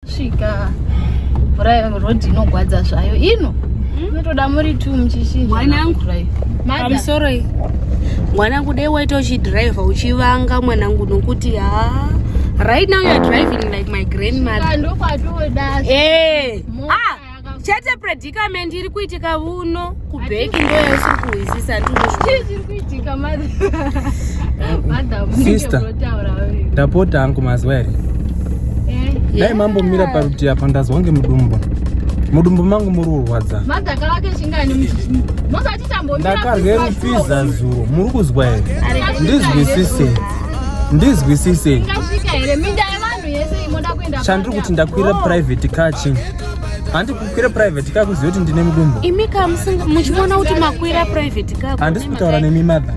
Svika drive road inogwadza zvayo ino inotoda hmm? muri two muchishinja mwana yangu sorry mwana yangu dai waita uchidriver uchivanga mwana yangu nokuti ha right now you're driving like my grandmother ndokwatoda eh ah chete predicament iri kuitika vuno kubheki ndo yaisiri kuhwisisa ndisister ndapota hangu maziwa here eh, dai mambomira parutivi apa ndazwa nge mudumbu mudumbu mangu muri kurwadza ndakarye rupfiza zuro muri kuzwa here ndizwisise ndizwisise chandiri kuti ndakwira private car chii handi kukwira private ka kuziva kuti ndine mudumbu imi ka muchiona kuti makwira private ka handisi kutaura nemi mother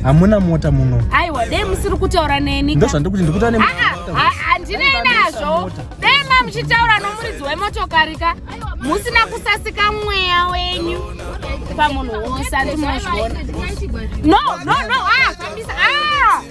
hamuna mota muno aiwa dei musiri kutaura neni ndozvandiri kuti ndikuta ne handinei ah, ah, ah, nazvo dei ma muchitaura nomuridzi wemotokari ka musina kusasika mweya wenyu pamunhu wose andimazviona no no no ah kambisa ah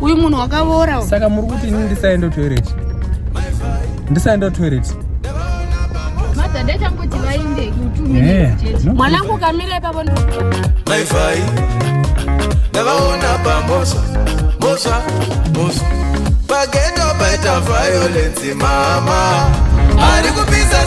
uyu munhu wakavora saka muri kuti ini ndisaenda toilet ndisaenda toilet mwanangu kamira ipapo maivai ndavaona pambosa mbosa mbosa pageto paita violence mama ari kupisa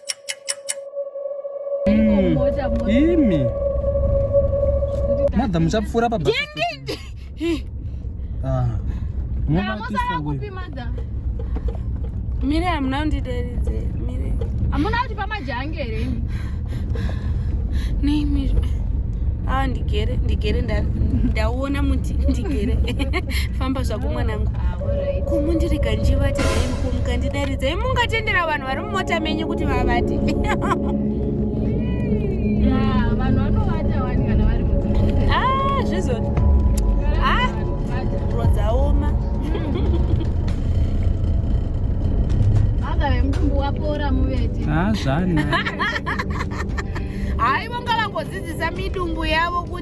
Hmm. imi madha muchapfuura pa mire hamuna kundideredze mire hamuna kuti pamajange here neimi aa ndigere ndigere ndaona muti ndigere famba zvako mwanangu ah, kumundirega njivati aimukumuka ndidaridza imungatendera vanhu vari mota menyu kuti vavate hazvana haivo ngavangodzidzisa midumbu yavo kuti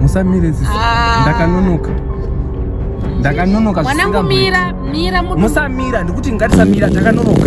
musamire ziso ah. ndakanonoka ndakanonoka mwanangu mira mira musamira ndikuti ngatisamira ndakanonoka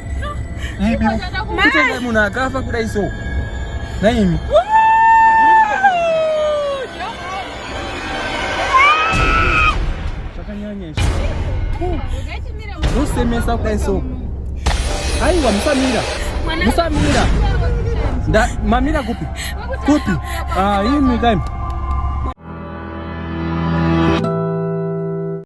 Ibi kutenga munhu akafa kudai so. Naimi. Zvakanyanya izvo. Usemesa kudai so. Aiwa musamira. Musamira. Nda mamira kupi? Kupi? Ah, imi kaimi.